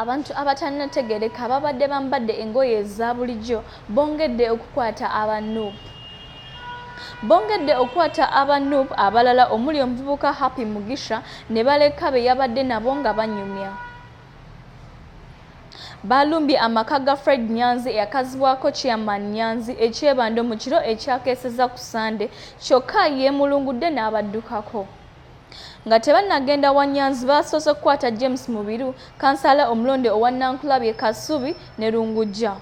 abantu abatannategereka babadde bambadde engoye eza bulijjo bongedde okukwata aba nup bongedde okukwata aba nup abalala omuli omuvubuka happy mugisha ne baleka be yabadde nabo nga banyumya baalumbye amaka ga fred nyanzi eyakazibwako chairman nyanzi ekyebando mu kiro ekyakeeseza ku sande kyokka yeemulungudde n'abaddukako Nga tebannagenda wa Nyanzi baasoose kukwata James Mubiru, kansaala omulonde owa Nankulabye, Kasubi ne Lungujja.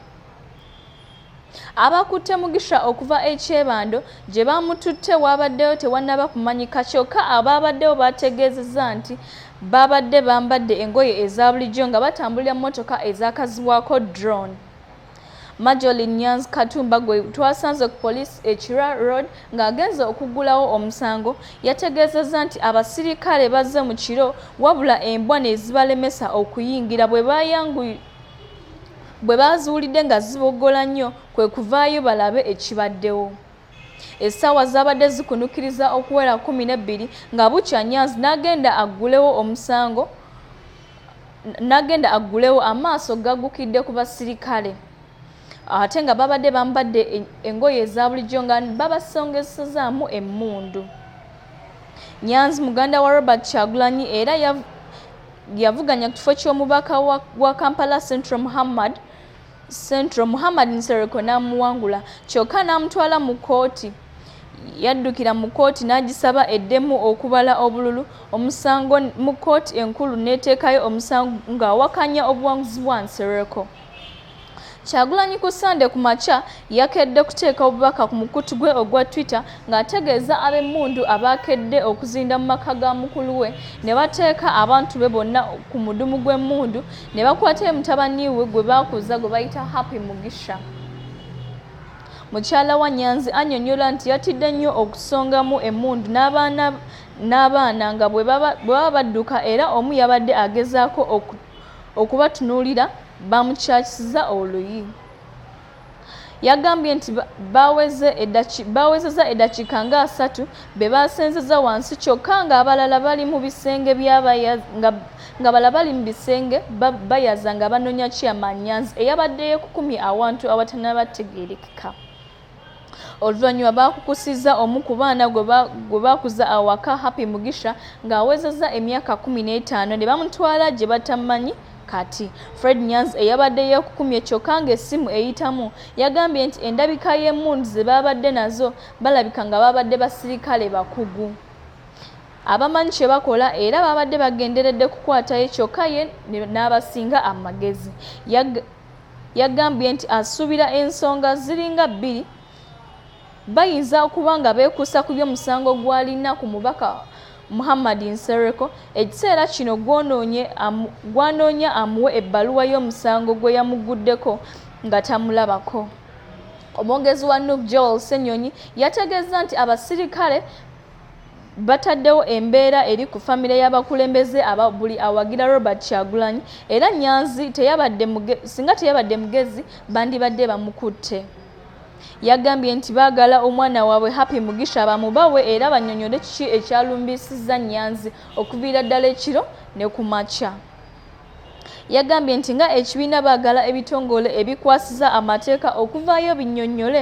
Abakutte Mugisha okuva e Kyebando gye baamututte waabaddeyo tewannaba kumanyika kyokka abaabaddewo baategeezezza nti baabadde bambadde engoye eza bulijjo nga batambulira mmotoka ezaakazibwako drone. Majolin Nyanzi Katumba gwe twasanze ku poliisi e Kira Road ng'agenze okuggulawo omusango yategeezezza nti abasirikale bazze mu kiro wabula embwa ne zibalemesa okuyingira bwe baayanguye bwe baaziwulidde nga ziboggola nnyo kwe kuvaayo balabe ekibaddewo essaawa zaabadde zikunukiriza okuwera kumi n'ebbiri nga bukya nyanzi n'agenda aggulewo omusango nagenda aggulewo amaaso gagukidde ku basirikale ate nga babadde bambadde engoye eza bulijjo nga babasongezesezaamu emmundu nyanzi muganda wa robert kyagulanyi era yavuganya ku kifo ky'omubaka wa kampala central muhammad central muhammad nsereko n'amuwangula kyokka n'amutwala mu kkooti yaddukira mu kkooti n'agisaba eddemu okubala obululu omusango mu kkooti enkulu n'eteekayo omusango ng'awakanya obuwanguzi bwa nsereko kyagulanyi ku ssande ku makya yakedde kuteeka obubaka ku mukutu gwe ogwa twitter ng'ategeeza ab'emmundu abaakedde okuzinda mu maka ga mukulu we ne bateeka abantu be bonna ku mudumu gw'emmundu ne bakwata mutabani we gwe baakuza gwe bayita happy mugisha mukyala wa nyanzi annyonnyola nti yatidde nnyo okusongamu emmundu n'abaana n'abaana nga bwe baba badduka era omu yabadde agezaako okubatunuulira bamukyakisiza oluyi Yagambye nti baawezezza eddakiika nga asatu be baasenzezza wansi kyokka ng'abalala bali mu bisenge ng'abalala bali mu bisenge bayaza nga banoonya Chairman Nyanzi eyabadde yeekukumye awantu awatanabategeerekeka. Oluvannyuma baakukusizza omu ku baana gwe baakuza awaka Happy Mugisha ng'awezezza emyaka kkumi n'etaano ne bamutwala gye batamanyi kati. Fred Nyanzi eyabadde yeekukumye kyokka ng'essimu eyitamu yagambye nti endabika y'emmundu ze baabadde nazo balabika nga baabadde basirikale bakugu abamanyi kye bakola era baabadde bagenderedde kukwatayo kyokka ye n'abasinga amagezi. Yagambye nti asuubira ensonga ziringa bbiri bayinza okuba nga beekuusa ku by'omusango gw'alina ku mubaka Muhammad Nsereko ekiseera kino gw'anoonya amuwe ebbaluwa y'omusango gwe yamugguddeko nga tamulabako. Omwogezi wa nup Joel Ssenyonyi yategeezza nti abasirikale bataddewo embeera eri ku famire y'abakulembeze aba buli awagira Robert Kyagulanyi era Nyanzi teyabadde singa teyabadde mugezi bandibadde bamukutte. Yagambye nti baagala omwana waabwe Happy Mugisha bamubawe era bannyonnyole kiki ekyalumbisizza Nyanzi okuviira ddala ekiro ne ku makya. Yagambye nti nga ekibiina baagala ebitongole ebikwasiza amateeka okuvaayo binnyonnyole